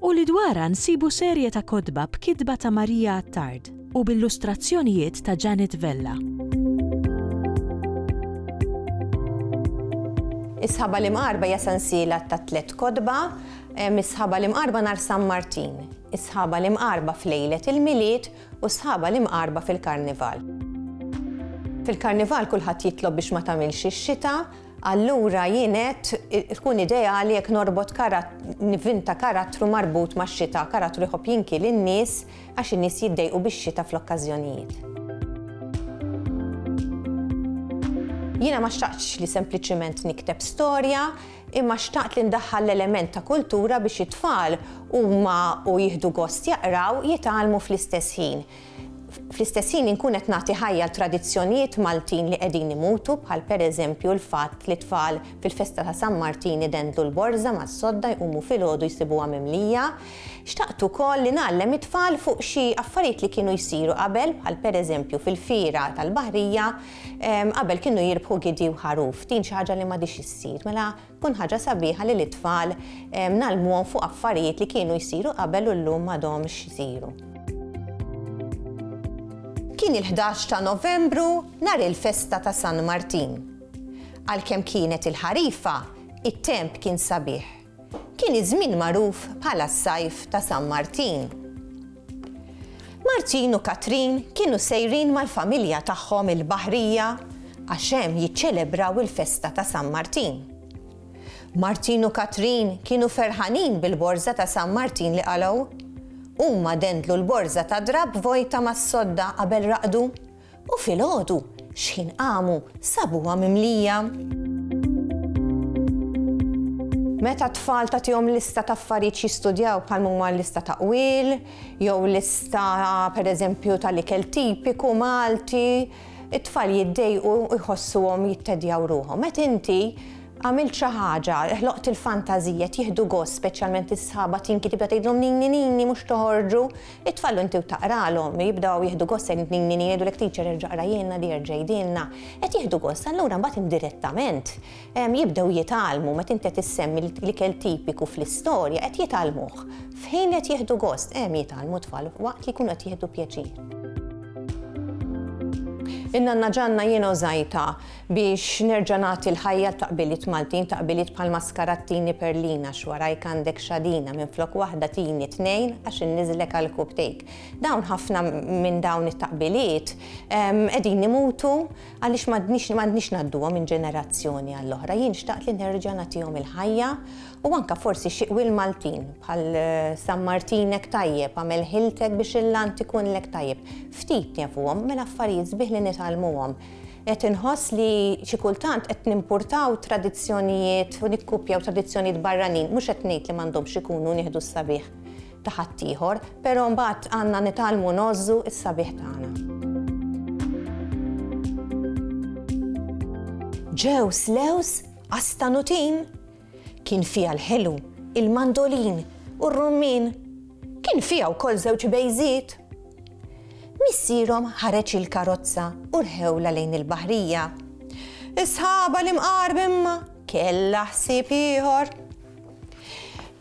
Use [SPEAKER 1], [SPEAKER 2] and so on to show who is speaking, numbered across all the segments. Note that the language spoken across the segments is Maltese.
[SPEAKER 1] u li dwarha nsibu serje ta' kotba b'kitba ta' Maria Attard u b'illustrazzjonijiet ta' Janet Vella.
[SPEAKER 2] Is-Sħaba l-Imqarba hija sensiela ta' tliet kotba, Is-Sħaba l-Imqarba nhar San Martin, Is-Sħaba l-Imqarba f'lejlet il-Milied u Sħaba l-Imqarba fil-Karnival. Fil-Karnival kulħadd jitlob biex ma tagħmilx ix-xita, Allura jien għedt tkun ideali jekk norbot nivinta karattru marbut max-xita, karattru jħobb jinki lin-nies għax in-nies jiddejqu bix-xita fl-okkażjonijiet. Jiena ma xtaqtx li sempliċiment nikteb storja, imma xtaqt li ndaħħal l-element ta' kultura biex it-tfal huma u jieħdu gost jaqraw, jitgħallmu fl-istess ħin. Fl-istess ħin inkun qed nagħti ħajja għal tradizzjonijiet Maltin li qegħdin imutu bħal pereżempju l-fatt li tfal fil-festa ta' San Martin idendlu l-borża mas-sodda jqumu filgħodu jsibuha mimlija. Xtaqt ukoll li ngħallem it-tfal fuq xi affarijiet li kienu jsiru qabel bħal pereżempju fil-fiera tal-baħrija qabel kienu jirbħu gidi u ħaruf. Din xi ħaġa li m'għadhiex issir. Mela Tkun ħaġa sabiħa li lit-tfal ngħallmuhom fuq affarijiet li kienu jsiru qabel u llum m'għadhomx isiru. Kien il-ħdax ta' Novembru nhar il-festa ta' San Martin. Għalkemm kienet il-ħarifa, it-temp kien sabiħ. Kien iż-żmien magħruf bħala s-sajf ta' San Martin. Martin u Katrin kienu sejrin mal-familja tagħhom il-baħrija għax hemm jiċċelebraw il-festa ta' San Martin. Martin u Katrin kienu ferħanin bil-borża ta' San Martin li qalgħu. Huma dendlu l-borża ta' drapp vojta mas-sodda qabel raqdu U filgħodu, xħin qamu, sabuha mimlija. Meta t-tfal tagħtihom lista ta' affarijiet jistudjaw bħal huma lista ta' qwil, jew lista pereżempju tal-ikel tipiku Malti, it-tfal jiddejqu jħossuhom jittedjaw ruħhom. Meta inti għamilt xi ħaġa, ħloqt il-fantażija jieħdu gost speċjalment is-sħaba tinki tibda tgħidlhom nini nini mhux toħorġu, It-tfal u inti u taqralhom jibdew jieħdu gost se nini jgħidulek teacher erġa' qrajhielna di erġa' għidilna. Qed jieħdu gost allura mbagħad indirettament jibdew jitgħallmu meta inti qed issemmi l-ikel tipiku fl-istorja qed jitgħallmuh. F'ħin li qed jieħdu gost hemm jitgħallmu t-tfal waqt li jkunu qed jieħdu pjaċir. In-nanna Ġanna jiena u Zajta Biex nerġa' nagħti l-ħajja l-taqbiliet Maltin, taqbiliet bħal maskarat tini perlina x'warajk għandek xadina, minflok waħda tini tnejn għax inniżlek għall-kubtejk. Dawn ħafna minn dawn it-taqbiliet qegħdin imutu għaliex m'għandniex ngħadduhom minn ġenerazzjoni għall-oħra. Jien xtaqt li nerġa' nagħtihom il-ħajja u anke forsi xi qwiel Maltin bħal San Martinek tajjeb, agħmel ħiltek biex il-land ikunlek tajjeb. Ftit nefuhom, mela affarijiet sbieħ li nitgħallmuhom. Qed inħoss li xi kultant qed nimpurtaw tradizzjonijiet u nikkupjaw tradizzjonijiet barranin. Mhux qed ngħid li m'għandhomx ikunu nieħdu s-sabiħ ta' ħaddieħor, però mbagħad għandna nitgħallmu ngħożżu s-sabiħ tagħna. Ġew slews? Qastanutin? Kien fiha l-ħelu, il-mandolin u r-rummien. Kien fiha wkoll żewġ bejżiet. Missierhom ħareġ il-karozza u rħewlha lejn il-baħrija. Is-sħaba l-imqar b'imma kellha ħsieb ieħor.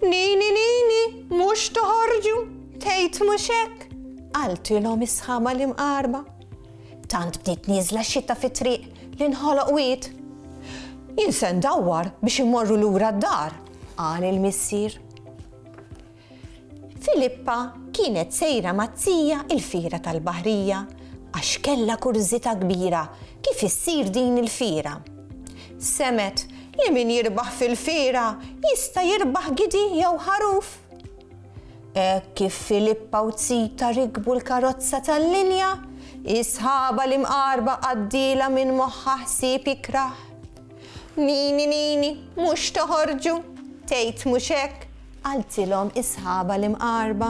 [SPEAKER 2] Nini, nini, mhux toħorġu, tgħid mhux hekk, qaltilhom is-sħaba l-imqarba. Tant bdiet nieżla x-xita fit-triq li nħoloq wied. Jien se ndawwar biex immorru lura d-dar, qal il-missier. Filippa kienet sejra mat-tija il-fiera tal-baħrija għax kellha kurżità kbira kif issir din il-fiera. Semgħet li min jirbaħ fil-fiera jista' jirbaħ gidi jew ħaruf. Hekk kif Filippa u Zita rikbu l-karozza tal-linja, is-sħaba l-imqarba għaddielha minn moħħha ħsieb ikrah. Nini, nini, mhux toħorġu, tgħid mhux hekk? qaltilhom is-sħaba l-imqarba.